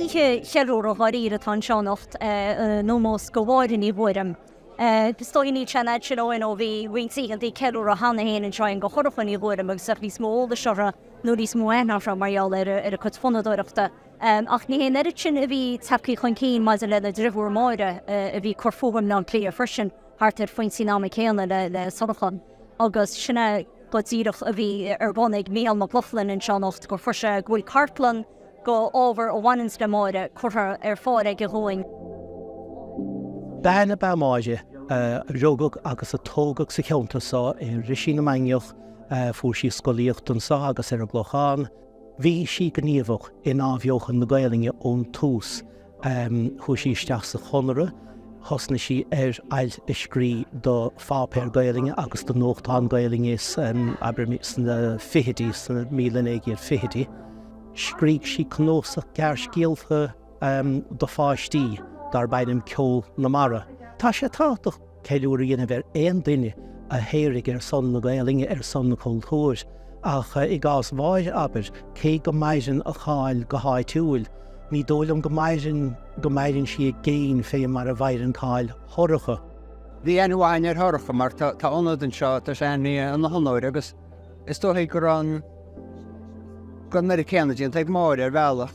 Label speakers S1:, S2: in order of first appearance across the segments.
S1: Oíche cheiliúradh dháiríre atá anseo anocht in ómós do Mháire Ní Ghuairim. Is dóigh níl sé an fhad sin ó shoin ó bhí roinnt oícheantaí ceiliúradh cheana féin anseo in do Shorcha Ní Ghuairim agus tá níos mó eolais orthu nó níos mó aithne orthu mar gheall ar a cuid fonnadóireachta. Ach ní hé an oiread sin a bhí tagtha chun cinn maidir lena driofúr Máire a bhí ag cur fúithi i mBleá Cliath freisin thart ar phointí an ama céanna le Sorcha. agus sin é go díreach a bhí ar bun ag Mícheál Mac Lochlainn anseo anocht gur chuir sé go bhfuil cartlann de ábhar a bhaineanns le Máire curtha ar fáil aige dhúinn. Bean
S2: ab ea Máire a rugadh agus a tógadh sa cheantar so i Roisín na Mainiach. Fuair sí scolaíocht anso agus ar an gClochán. Bhí sí gníomhach in Athbheochan na Gaelainne ón tús. Chuaigh sí isteach sa Chonradh, thosnaigh sí ar ailt a scrí do pháipéir Gaelainne agus do nuachtáin Gaelainne san, abair, sna fichidí, sna míle naoi gcéad fichidí. Scrígh sí cnuasach gearrscéalta do pháistí darb ainm Ceol na Mara. Tá sé tábhachtach. ceiliúr a dhéanamh ar aon duine a shaothraigh ar son na Gaoluinne, ar son an chultúir. Ach i gcás Mháire, abair, cé go maireann a cáil go háitiúil, ní dóigh liom go maireann go maireann sí i gcéin fé mar a mhaireann cáil Shorcha. Bhí
S3: aithne mhaith againn ar Shorcha mar tá ionad anseo, tá sé ainmnithe ina honóir agus is dóichí go raibh an, go raibh an oiread céanna déanta ag Máire ar bhealach.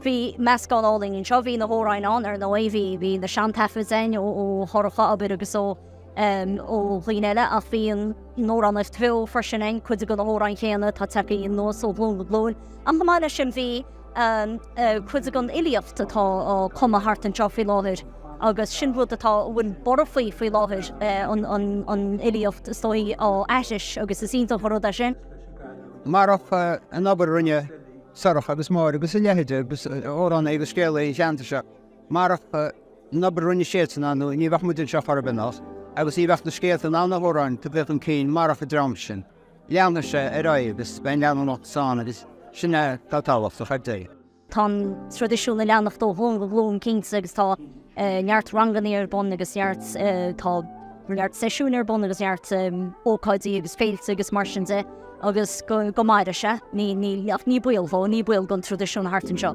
S1: Bhí meascán álainn anseo, bhí na hamhráin ann ar ndóigh, bhí, bhí na seantaifid a'inn ó, ó Shorcha abair agus ó, em, ó dhaoine eile ach bhí an amhránaíocht bheo freisin a'inn, cuid de na hamhráin chéanna atá tagtha anuas ó ghlúin go glúin. Ach chomh maith leis sin bhí. Cuid den fhilíocht atá á cumadh thart anseo faoi láthair agus sin rud atá, a bhfuil borradh faoi faoi láthair, an fhilíocht is dóigh á aithris agus is iontach an rud é sin. Marach
S3: an obair a rinne Sorcha agus Máire agus a leithide agus amhránaithe agus scéalaithe an cheantair seo, marach an obair a rinne siadsan ar ndóigh ní bheadh muid anseo chor ar bith, anocht, agus ní bheadh na scéalta ná na hamhráin tagtha chun cinn marach an dream sin. Leanfaidh sé ar aghaidh agus beidh an leanúnachas ann agus sin é atá tábhachtach ar deireadh. Tá an
S1: traidisiún ag leanacht ó ghlúin go glúin cinnte agus tá neart ranganna ar bun agus neart, tá neart seisiúin ar bun agus neart ócáidí agus féilte agus mar sin de agus go maire sé, ní baol dhó, ní baol don traidisiún thart anseo.